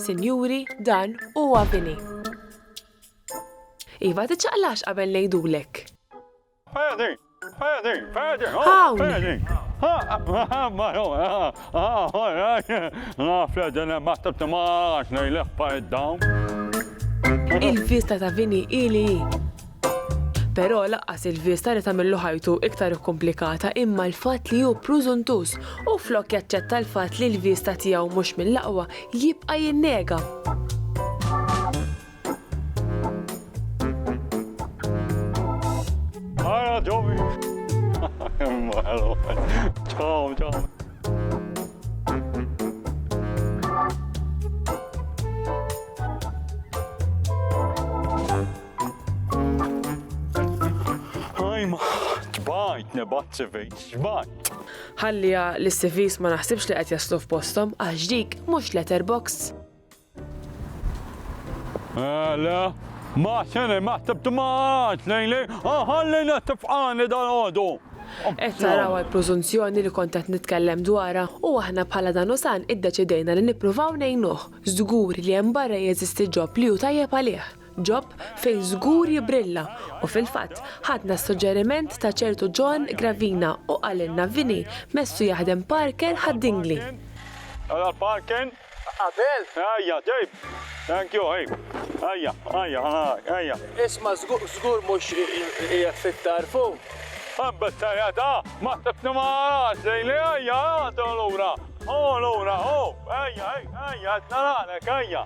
Sinjuri, dan huwa bini. Iva, tiċċaqlax qabel ngħidulek. Pedi! Pedi! Pedi! Hawn! Pedi! Naf li din hemm għadd timgħax ngħidlek pa id-dawn. Il-vista ta' bini hi li hi. Però laqqas il-vista li tagħmillu ħajtu iktar ikkumplikata imma l-fatt li hu prużuntuż u flok jaċċetta l-fatt li l-vista tiegħu mhux mill-aqwa jibqa' jinnega. Ħajma, tbajt, nebat CVs, tbajt. Ħalliha li s-CVs ma naħsibx li qed jaslu f'posthom għax dik mhux letterbox. Għala, ma sene ma tibtmax lejn lejn, ħalli nettifqani dal-għodu. Qed taraw għall-preżunzjoni li kont qed nitkellem dwarha u aħna bħala Danusan iddeċidejna li nippruvaw ngħinuh. Żgur li hemm barra jeżisti ġob li hu tajjeb għalih. Job fejn żgur jibrilla u fil-fatt ħadna s-suġġeriment ta' ċertu John Gravina u qalilna Vinny messu jaħdem Parker ħad-Dingli. Ara l-Parker. Qabel. Ejja, ġib. Thank you, ejja. Ejja, ejja, ħa narak, ejja. Isma' żgur mhux qiegħed fit-tarfu? Hemm bis-serjetà, ma ħsibtni ma narax lili, ejja, ejja, ħu lura, ħu lura, ħu, ejja, ejja, qed naralek, ejja.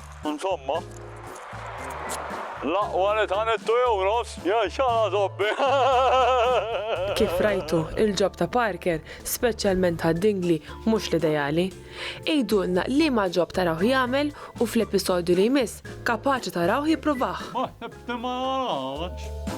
Insomma, l-aqwa li tħanet tu jew nofs, jew xala zobbi. Kif rajtu, il-ġob ta' Parker, speċjalment ta' Dingli, mhux l-ideali. Għidulna liema ġob tarawh jagħmel u fl-episodju li jmiss kapaċi tarawh jippruvah. Ma ħsibx li ma narawhx.